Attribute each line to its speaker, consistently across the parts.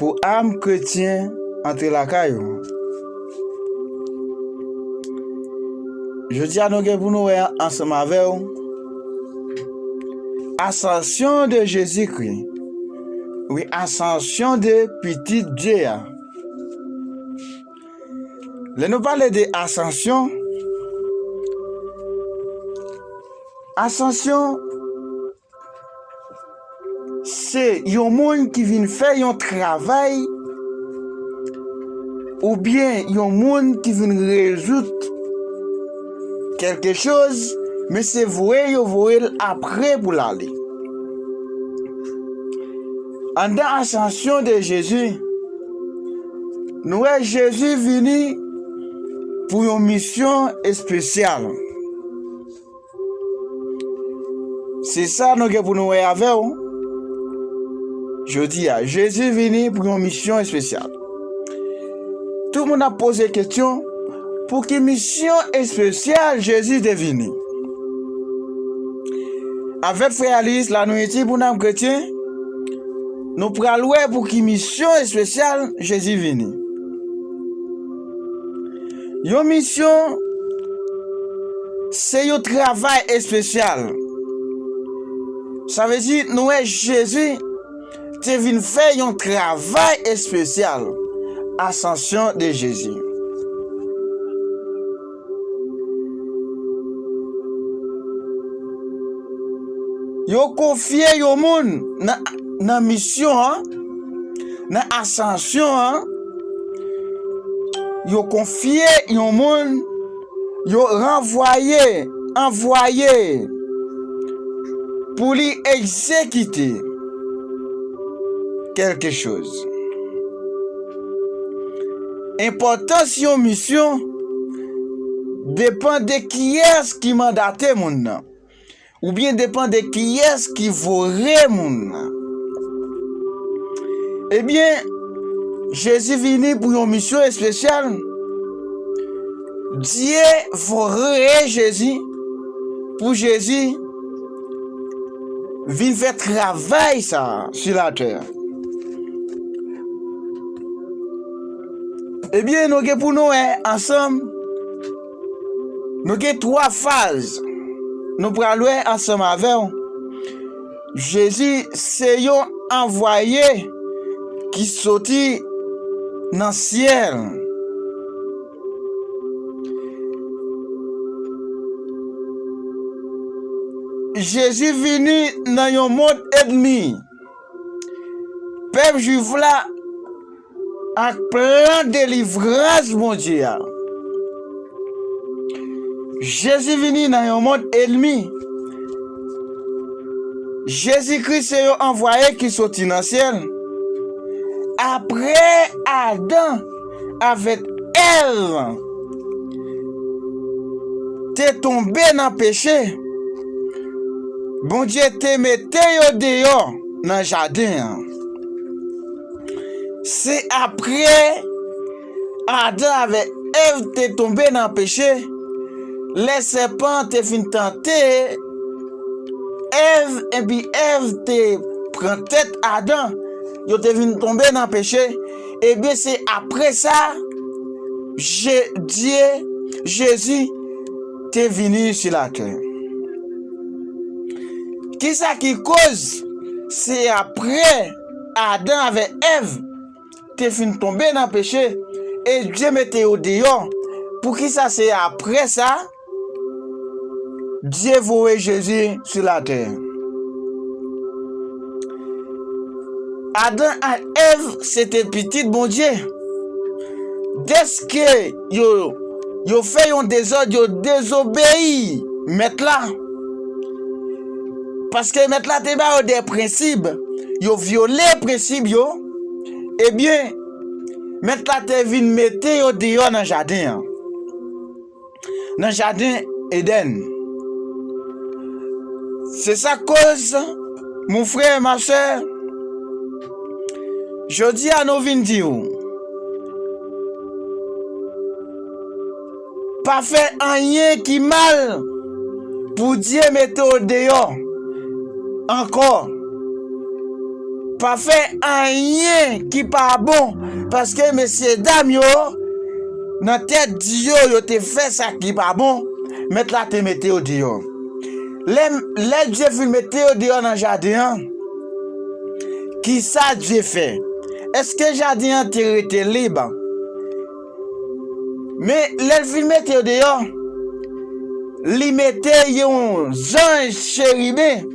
Speaker 1: Pou am kretyen antre lakay ou. Jodi a nou gen pou nou wè ansanm avè ou Asansyon de Jezikri, wi Asansyon de Pitit Dye a. Lè nou pale de Asansyon, Asansyon Se yon moun ki vin fè yon travay oubyen yon moun ki vin rezoud kèlke choz men se voye yo voye l apre pou l ale. Anndan asansyon de Jezi, nou wè Jezi vini pou yon misyon espesyal. Se sa nou gen pou nou wè avè ou. Jodi a, Jezi vini pou yon misyon espesyal. Tout moun ap poze kestyon, pou ki misyon espesyal Jezi te vini? Avèk frè Alis la nou iti pou nanm kretyen, nou pral wè pou ki misyon espesyal Jezi vini. Yon misyon se yon travay espesyal. Sa vle di nou wè Jezi te vin fè yon travay espesyal, Asansyon de Jezi. Yo konfye yon moun nan misyon an, nan Asansyon an. Yo konfye yon moun, yo ranvwaye, anvwaye, pou li egzekite kèlke choz. Enpòtans yon misyon depan de kiyès ki mandate moun nan. Ou byen depan de kiyès ki vo re moun nan. E byen, Jezi vini pou yon misyon espesyal. Dye vo re Jezi pou Jezi vin fè travay sa a sou latè a. E byen, nou gen pou nou wè ansanm. Nou gen twa faz nou pral wè ansanm avè w. Jezi se yon anvwaye ki soti nan syèl. Jezi vini nan yon mond ènmi. Pèp jwif la. Ak plan delivrans Bondye a, Jezi vini nan yon mond enmi. Jezi Kris se yon anvwaye ki soti nan syèl. Apre Adan avèk Èv te tonbe nan peche, Bondye te mete yo deyò nan jaden an. Se apre Adan avèk Èv te tonbe nan peche, lè sèpan an te fin tante Èv, epi Èv te pran tèt Adan, yo te vin tonbe nan peche, ebyen se apre sa Bondye, Jezi, te vini sou latè. Kisa ki koz se apre. Adan avè Èv te fin tonbe nan peche e Dye mete yo deyò, poukisa se apre sa Dye voye Jezi sou latè? Adan ak Èv se te pitit Bondye. Dèske. Yo, yo fè yon dezòd, yo dezobeyi mèt la. Paske mèt la te ba yo de prensib, yo vyole prensib yo, ebyen, mèt la te vin mete yo deyò nan jaden an, nan jaden Edenn. Se sa k koz, mon frè, ma sè, Jodi a nou vin di ou. Pa fè anyen ki mal pou Dye mete w deyò ankò. Pa fè anyen ki pa bon paske mesyedam yo nan tèt di yo yo te fè sa ki pa bon, Mèt la te mete yo deyò. Lè Dye fin mete yo deyò nan jaden an, ki sa Dye fè? Èske jaden an te rete lib? Men, lè l fin mete yo deyò, li mete yon zanj cheriben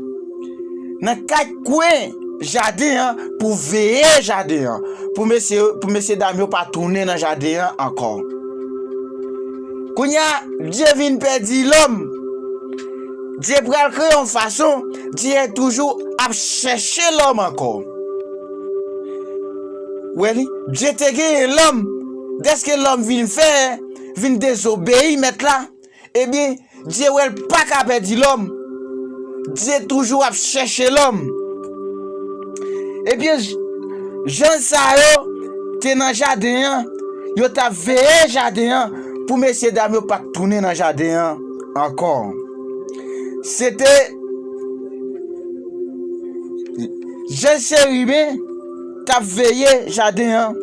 Speaker 1: nan kat kwen jaden an pou veye jaden an, pou mesye dam yo pa tounen nan jaden an ankò. Kounya Dye vin pèdi lòm. Dye pral kreye yon fason, Dye toujou ap chèche lòm ankò. Wè li, Dye te genyen lòm, dèske lòm vin fè, vin dezobeyi Mèt la, ebyen, Dye wè l pa ka pèdi lòm. Dye toujou ap chèche lòm. Ebyen, jèn sa yo te nan jaden an, yo t ap veye jaden an pou mesyedam yo pa t tounen nan jaden an ankò. Se te jèn cheriben k ap veye jaden an.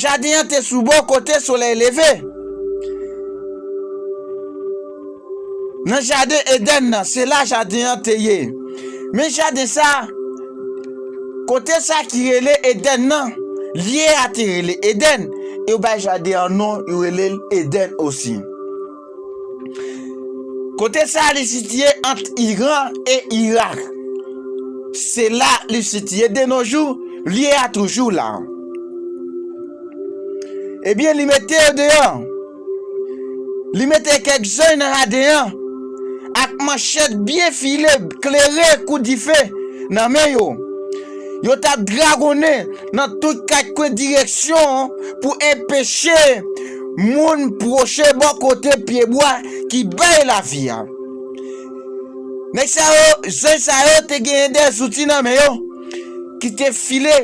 Speaker 1: Jaden an te sou bò kote solèy leve. Nan jaden Edenn nan, se la jaden an te ye. Men jaden sa, kote sa ki rele Edenn nan, lye a te rele Edenn, yo bay jaden an non, yo rele l Edenn osi. Kote sa a li sitiye ant Iran e Irak. Se la li sitiye de no jou, lye a toujou la. Ebyen li mete yo deyò. Li mete kèk zanj nan jaden an ak manchèt byen file, klere kou dife nan men yo. Yo t ap dragonnen. nan tout kat kwen direksyon pou enpeche moun pwoche bò kote pyebwa ki bay lavi a. Nèg sa yo, zanj sa yo te genyen de zouti nan men yo ki te file,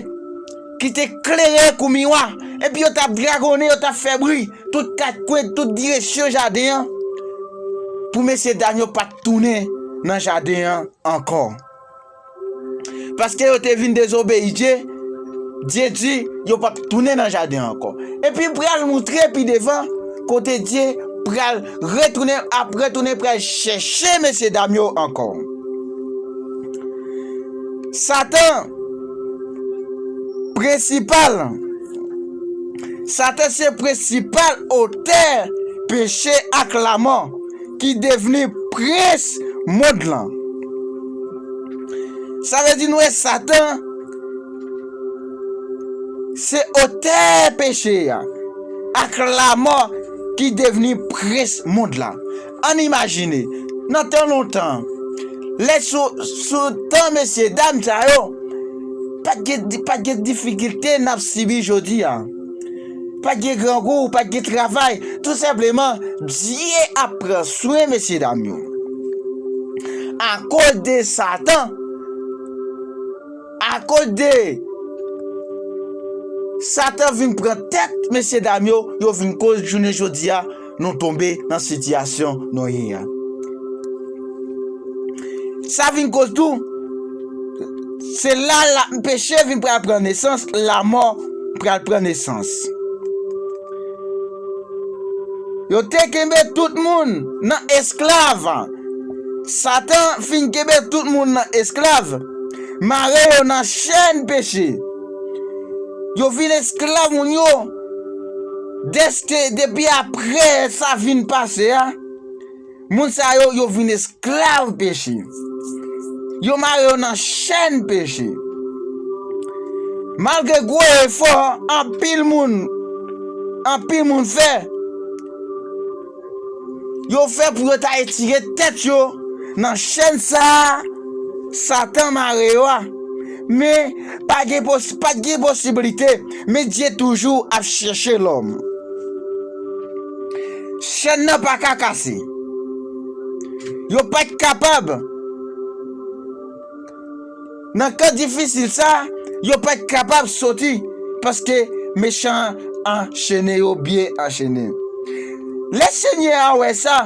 Speaker 1: ki te klere kou miwa, epi yo t ap dragonnen, yo t ap fè bri tout kat kwen, tout direksyon jaden an pou mesye dam yo pa t tounen nan jaden an ankò. Paske yo te vin dezobeyi Dye, Dye di yo pap tounen nan jaden an ankò. Epi pral moutre pi devan kote Dye pral retounen, ap retounen pral chèche mesye dam yo ankò. Satan, prensipal, Satan se prensipal otè peche ak lamò. Ki devni prens mond lan. Sa vle di nou wè Satan se otè peche a ak lamò ki devni prens mond lan. Ann imajine, nan tan lontan, lè sou tan mesye dam sa yo, pa t gen difikilte n ap sibi jodi a. Pat gen grangou, pat gen travay, tout senpleman Dye ap pran swen mesye dam yo. Akoz de satan, akoz de satan vin pran tèt mesye dam yo, yo vin koz jounen jodi a. nou tonbe nan sitiyasyon nou ye a. Sa vin koz tou, se la peche vin pral pran nesans, lanmò pral pran nesans. Yo te kenbe tout moun nan esklav, Satan fin kenbe tout moun nan esklav, mare yo nan chèn peche. Yo vin esklav moun yo. Dèske depi apre sa fin pase a, moun sa yo, yo vin esklav peche. Yo mare yo nan chenn peche. Malgre gwo efò anpil moun, anpil moun fè, yo fè pou yo ta etire tèt yo nan chèn sa a Satan mare yo a, men, pa gen posi, pa t gen posiblite, men Dye toujou ap chèche lòm. Chèn nan pa ka kase. Yo pa t kapab. Nan ka difisil sa, yo pa t kapab soti paske mechan an anchene yo byen anchene. Lè Senyè a wè sa,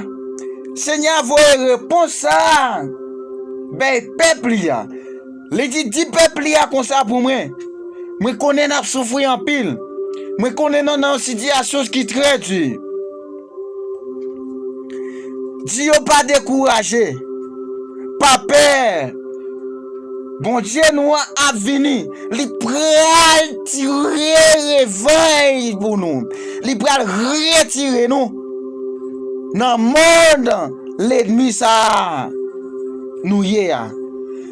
Speaker 1: Senyè a voye repons sa a bay pèp li a, li di, Di pèp li a konsa pou mwen, 'Mwen konnen n ap soufri anpil, mwen konnen nou nan yon sitiyasyon ki trè di. Di yo pa dekouraje, pa pè. Bondye nou an ap vini. Li pral tire revèy pou nou. Li pral retire nou nan mond lenmi sa a nou ye a.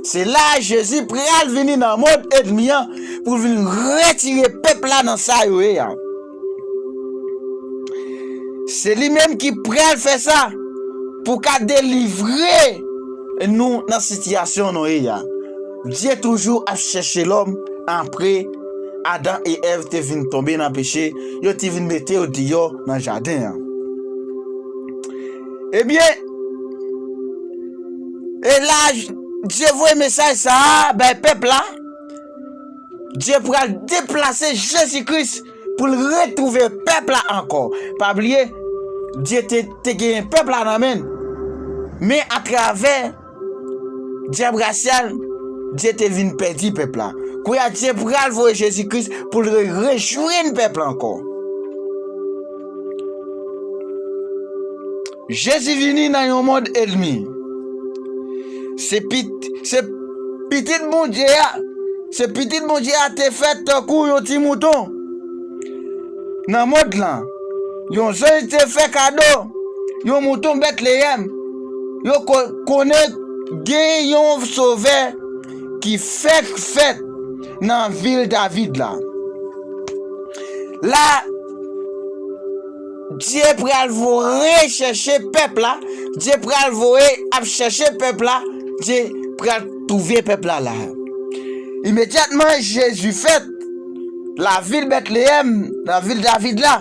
Speaker 1: Se la Jezi pral vini nan mond enmi an pou l vin retire pèp la nan sa yo ye a. Se li menm ki pral fè sa pou ka delivre nou nan sitiyasyon nou ye a. Dye toujou ap chèche lòm apre Adan e Èv te vin tonbe nan peche, yo te vin mete yo deyò nan jaden an. Ebyen, e la Dye voye mesaj sa a bay pèp la. Dye pral deplase Jezi Kris pou l retwouve pèp la ankò. Pa bliye, Dye te genyen pèp la nan men l, men atravè dyab rasyal, Dye te vin pèdi pèp la. Kounye a, Dye pral voye Jezi Kris pou l rejwenn pèp la ankò. Jezi vini nan yon mond elmi. Se Pitit Bondye a, se Pitit Bondye a te fèt tankou yon ti mouton nan mond lan. Yon zanj te fè kado yon mouton Betleyèm. Yo konnen gen yon Sovè ki fèk fèt nan vil David la. La. Bdye pral vo re chèche pèp la bdye pral voye ap chèche pèp la bdye pral touve pèp la la imedyatman jezi fèt la vil bètleyèm nan vil david la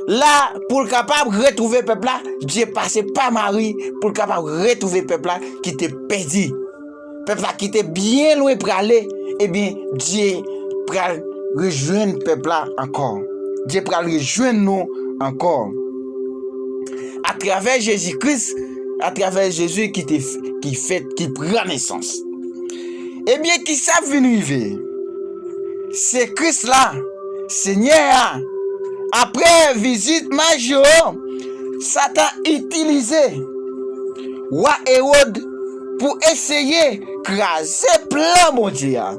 Speaker 1: la poul kapab retrouve pèp la bdye pase pa mari poul kapab retrouve pèp la ki te pèdi. pèp la ki te byen lwen prale, ebyen Dye pral rejwenn pèp la ankò. Dye pral rejwenn nou ankò. Atravè Jezi Kris, atravè Jezi ki te ki fèt, ki pran nesans. Ebyen ki sa k vin rive? Se Kris la, Senyè a, apre vizit maj yo, Satan itilize wa Ewòd, pou eseye kraze plan Bondye a.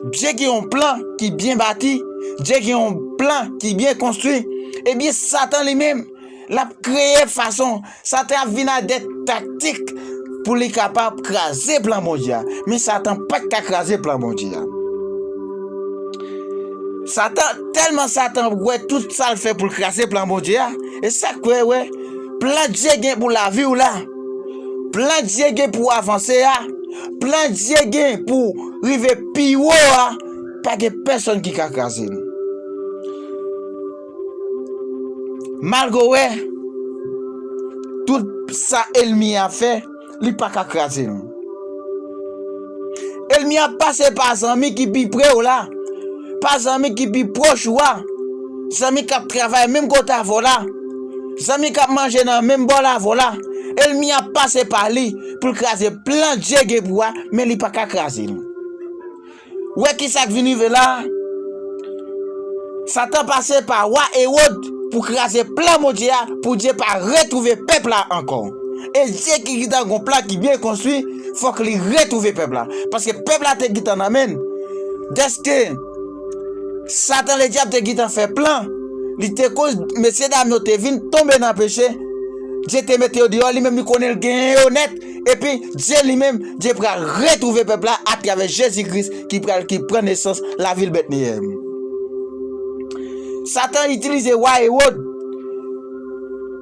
Speaker 1: Bdye gen yon plan ki byen bati, Bdye gen yon plan ki byen konstwi, ebyen satan li menm lap kreye fason, satan ap vin ak de taktik pou li kapab kraze plan Bondye a, men satan pat ka kraze plan Bondye a. Satan, tèlman satan wè tout sal fè poul kraze plan Bondye a, e sak wè wè plan Bdye gen pou laviw la. Plan Dye gen pou avanse a, plan Dye gen pou rive pi wo a, pa gen pèsonn ki ka kraze l. Malgre w wè tout sa èlmi a fè, li pa ka kraze l. Elmi ap pase pa zanmi ki pi pre w la, pa zanmi ki pi pwòch ou a, zanmi k ap travay menm kote avè w la, zanmi k ap manje nan menm bòl avè w la. Elmi ap pase pa li pou l kraze plan Dye gen pou ou a, men li pa ka kraze l. Ou wè ki sa k vin rive la a? Satan pase pa wa Ewod pou kraze plan Bondye a, pou Dye pa retwouve pèp la ankò. E Dye ki gentan gen yon plan ki byen konstwi, fòk li retwouve pèp la, paske pèp la te gintan nan men l, dèske satan ledyab te gintan fè plan, li te koz mesye dam yo te vin tonbe nan peche, Dye te mete yo deyò, li menm li konnen l genyen yo nèt, epi Dye li menm, Dye pral retwouve pèp la atravè Jezi Kris ki pral ki pran nesans lavil Bètneyèm. Satan itilize wa Ewòd.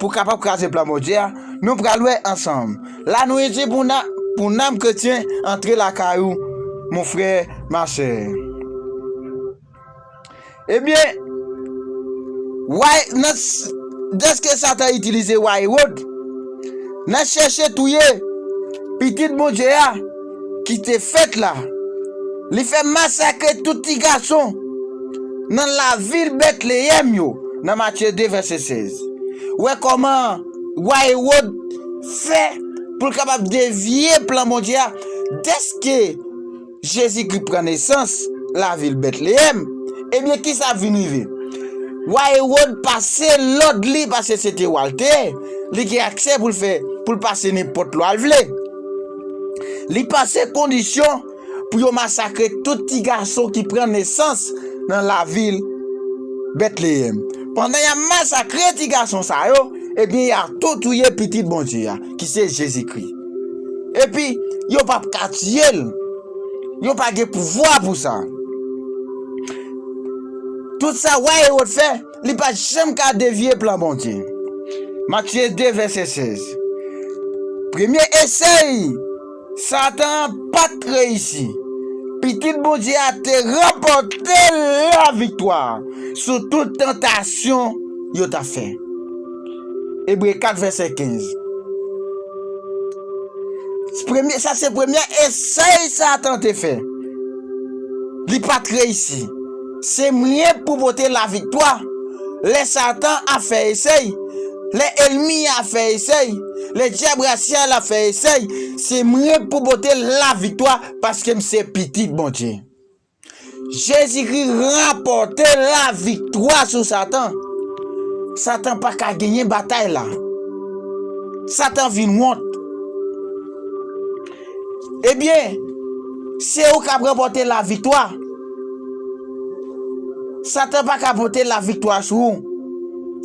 Speaker 1: Pou kapab kraze plan Bondye a, nou pral wè ansanm. La nou isi pou nan pou nanm kretyen antre lakay ou mon frè ma sè. Ebyen, way nan dèske satan itilize way Rod nan chèche touye pitit Bondye a, ki te fèt la, li fè masakre tout ti gason nan lavil Betleyèm yo, nan Matye 2, vèsè 16. Wè kòman wa Ewòd fè pou l kapab devye plan Bondye a, dèske Jezikri pran nesans lavil Betleyèm, ebyen kisa k vin rive? Wa Ewòd pase lòd li, paske se te wa l te ye, li gen aksè pou l fè, pou l pase nenpòt lwa l vle. Li pase kondisyon pou yo masakre tout ti gason ki pran nesans nan lavil Betleyèm. Pandan y ap masakre ti gason sa yo, ebyen y a tou touye Pitit Bondye a, ki se Jezikri. Epi, yo pap ka tiye l. Yo pa gen pouvwa pou sa. Tout sa wa Ewòd fè. Li pa t janm ka devye plan Bondye. Matye 2 vèsè 16 Premye esèy Satan an pa t reyisi. Pitit Bondye a te ranpòte laviktwa sou tout tantasyon yo t ap fè. Ebre 4 vèsè 15 Sa se premye esèy Satan te fè. Li pa t reyisi. Se mwen k pou pote laviktwa. Lè Satan ap fè esèy, lè ènmi an ap fè esèy, lè dyab rasyal ap fè esèy, se mwen k pou pote laviktwa paske m se Pitit Bondye. Jezikri ranpòte laviktwa sou Satan. Satan pa ka genyen batay la. Satan vin wont. Ebyen, se ou kap ranpòte la viktwa. Satan pa ka pote la viktwa sou ou.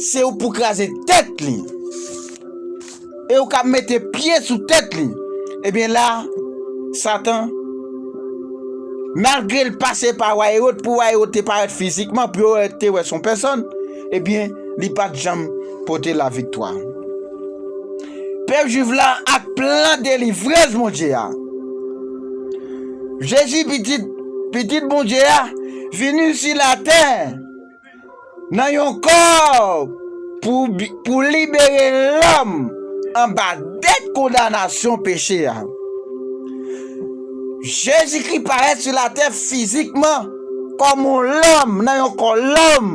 Speaker 1: Se ou pou kraze tèt li. E ou kap mete pye sou tèt li. Ebyen la, Satan, malgre l pase pa wa Ewòd, pou wa Ewòd te parèt fizikman, pou yo te wè son pèsòn, Ebyen, li pa t janm pote laviktwa. Pèp Juif la ak plan delivrans Bondye a. Jezi, Pitit Pitit Bondye a, vini sou latè nan yon kò pou libere lòm anba dèt kondanasyon peche a. Jezikri parèt sou latè fizikman. Kòm yon lòm nan yon kò lòm,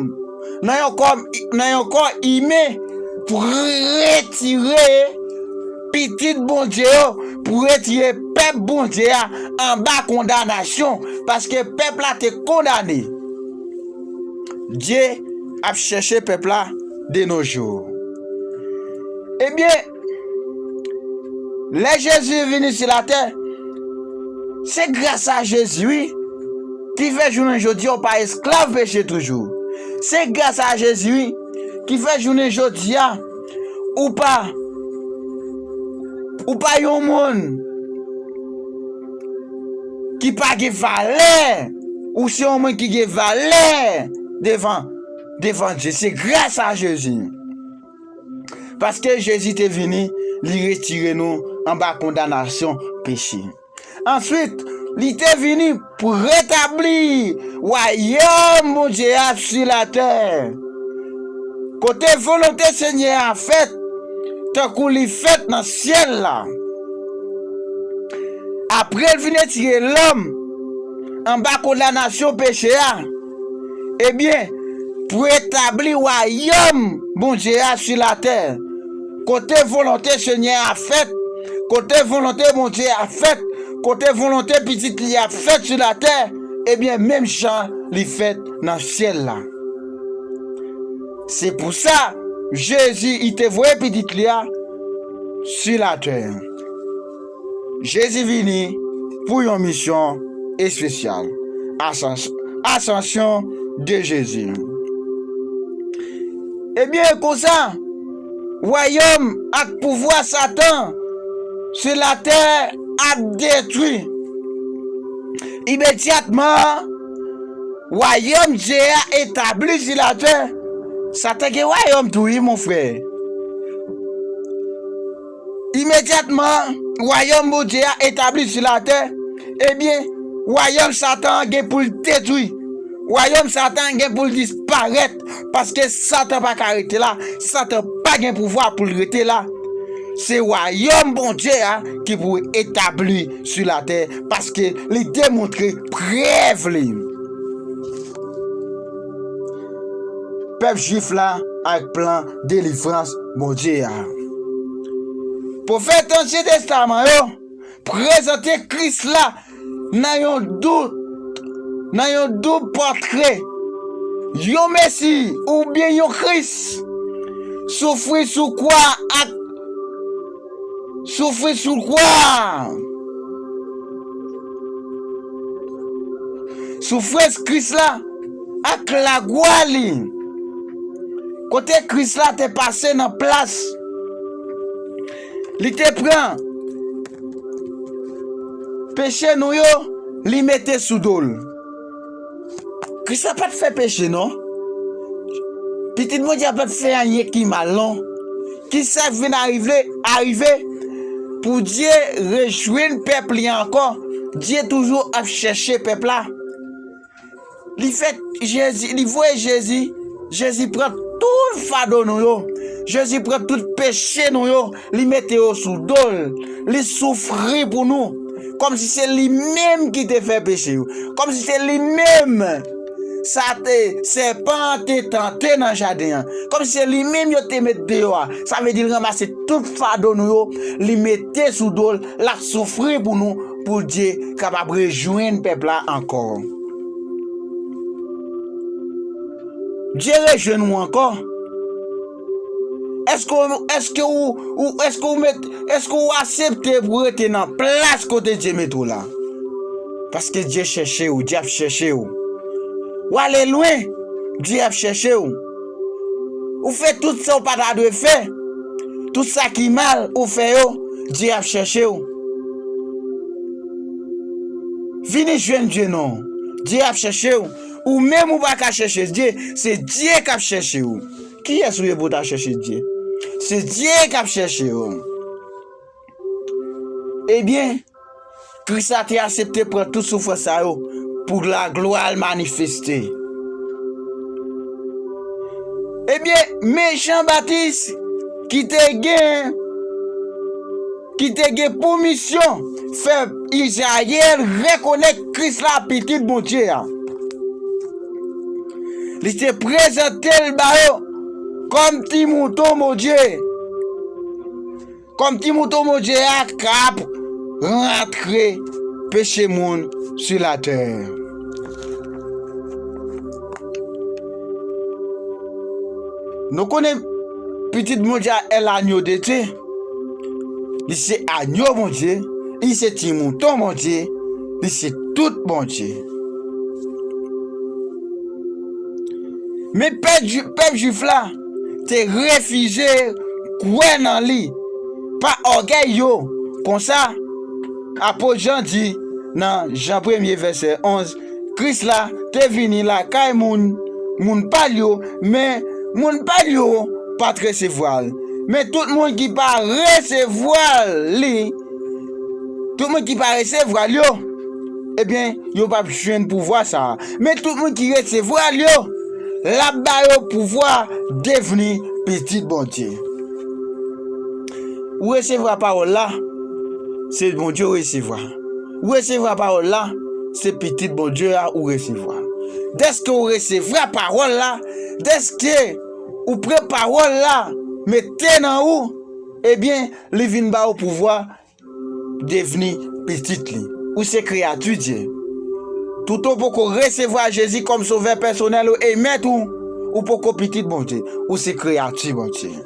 Speaker 1: nan yon kò nan yon kò imen pou retire pitit Bondye yo, pou retire pèp Bondye a anba kondanasyon, paske pèp la te kondane. Dye ap chèche pèp la denojou. Ebyen. Lè Jezi vini sou latè, se gras a Jezi wi ki fè jounen jodi a ou pa esklav peche toujou. Se gras a Jezi wi ki fè jounen jodi a ou pa ou pa yon moun ki pa gen valè, ou se yon moun ki gen valè devan devan Dye. Se gras a Jezi. Paske Jezi te vini, li retire nou anba kondanasyon peche. Answit, li te vini pou retabli wayòm Bondye a sou latè, kote volonte Senyè a fèt tankou li fèt nan syèl la. Apre l fin retire lòm anba kondanasyon peche a, Ebyen, pou retabli wayòm Bondye a sou latè, kote volonte Senyè a ap fèt, kote volonte Bondye a ap fèt, kote volonte Pitit li a ap fèt sou latè, ebyen menm jan li fèt nan syèl la. Se pou sa Jezi te voye Pitit li a sou latè. Jezi vini pou yon misyon espesyal. Asansyon de Jezi Ebyen, e konsa, wayòm ak pouvwa Satan sou latè ap detwi. Imedyatman, wayòm Dye a etabli sou latè. Satan gen wayòm tou wi, monfrè. Imedyatman, wayòm Bondye a etabli sou latè, ebyen, wayòm Satan an gen pou l detwi. Wayòm Satan an gen pou l disparèt, paske Satan pa ka rete la, Satan pa gen pouvwa pou l rete la. Se wayòm Bondye a ki pou etabli sou latè, paske li demontre prèv li. Pèp Jwif la ak plan. delivrans Bondye a. Pwofèt Ansyen Testaman yo prezante Kris la nan yon dout, nan yon doub pòtre, yon Mesi oubyen yon Kris soufri sou kwa ak Soufri sou kwa a! Soufrans Kris la ak lagwa li. Kote Kris la te pase nan plas li te pran peche nou yo, li mete sou do l. Kris la pa t fè peche non. Pitit Bondye a pa t fè anyen ki mal non. Ki sa k vin arive? Pou Dye rejwenn pèp li ankò, Dye toujou ap chèche pèp la. Li fè Jezi, li voye Jezi, Jezi pran tout fado nou yo, Jezi pran tout peche nou yo. Li mete yo sou do l, li soufri pou nou, kòmsi se li menm ki te fè peche yo, kòmsi se li menm sa te sèpan an te tante nan jaden an, kòmsi se li menm yo te met deyò a. Sa vle di l ranmase tout fado nou yo, li mete sou do l, l ap soufri pou nou, pou Bdye kapab rejwenn pèp la ankò. Bdye rejwenn ou ankò? Eske ou eske ou ou eske ou met eske ou asepte pou rete nan plas kote Dye mete w la? Paske Dye chèche ou, Dye ap chèche ou. Ou ale lwen, Dye ap chèche ou. Ou fè tout sa ou pa ta dwe fè, tout sa ki mal ou fè yo, Dye ap chèche ou. Vini jwenn Dye non, Dye ap chèche ou. Ou menm ou pa ka chèche Dye, se Dye k ap chèche ou. Kiyès ou ye pou w ta chèche Dye? Se Dye k ap chèche w. Ebyen, Kris la te asepte pran tout soufrans sa yo pou laglwa l manifeste. Ebyen, men Jan Batis ki te gen. ki te gen pou misyon fè Izrayèl rekonèt Kris la, Pitit Bondye a. Li te prezante l ba yo kòm Ti Mouton Bondye, kòm Ti Mouton Bondye a k ap rantre peche moun sou latè. Nou konnen Pitit Bondye a, El Agneau de Dieu. Li se agno Bondye, li se ti mouton Bondye, li se tout Bondye. Men pèp jwif la te refize kwè nan li pa ògèy yo, konsa apot Jan di nan Jan premye vèsè 11, Kris la te vini lakay moun, moun pa l yo, men, moun pa l yo pa t resevwa l. Men tout moun ki pa resevwa li, tout moun ki pa resevwa l yo, ebyen, yo p ap jwenn pouvwa sa a. Men tout moun ki resevwa l yo, l ap ba yo pouvwa devni pitit Bondye. Ou resevwa pawòl la, se Bondye ou resevwa. Ou resevra pawòl la, se Pitit Bondye a ou resevwa. Dèske ou resevra pawòl la, dèske ou pran pawòl la mete nan ou, ebyen li vin ba ou pouvwa devni pitit li. Ou se kreyati Dye. Toutan ou poko resevwa Jezi kòm sovè pèsonèl ou e mèt ou, ou poko pitit Bondye. Ou se kreyati Bondye.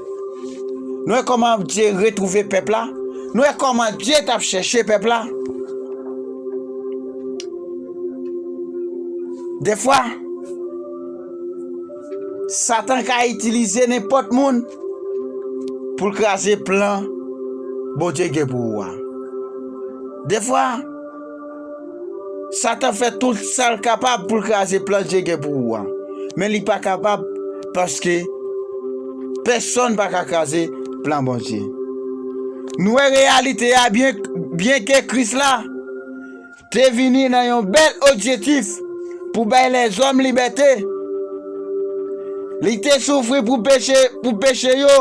Speaker 1: Nou wè kòman Bdye retwouve pèp la? Nou wè kòman Bdye t ap chèche pèp la? Defwa, Satan ka itilize nenpòt moun pou l kraze plan Bondye gen pou ou a. Defwa. Satan fè tout sa l kapab pou l kraze plan Dye gen pou ou an, men li pa kapab paske pèsonn pa ka kraze plan Bondye. Nou wè reyalite a byenke Kris la te vini nan yon bèl objektif pou bay lèzòm libète, li te soufri pou peche yo.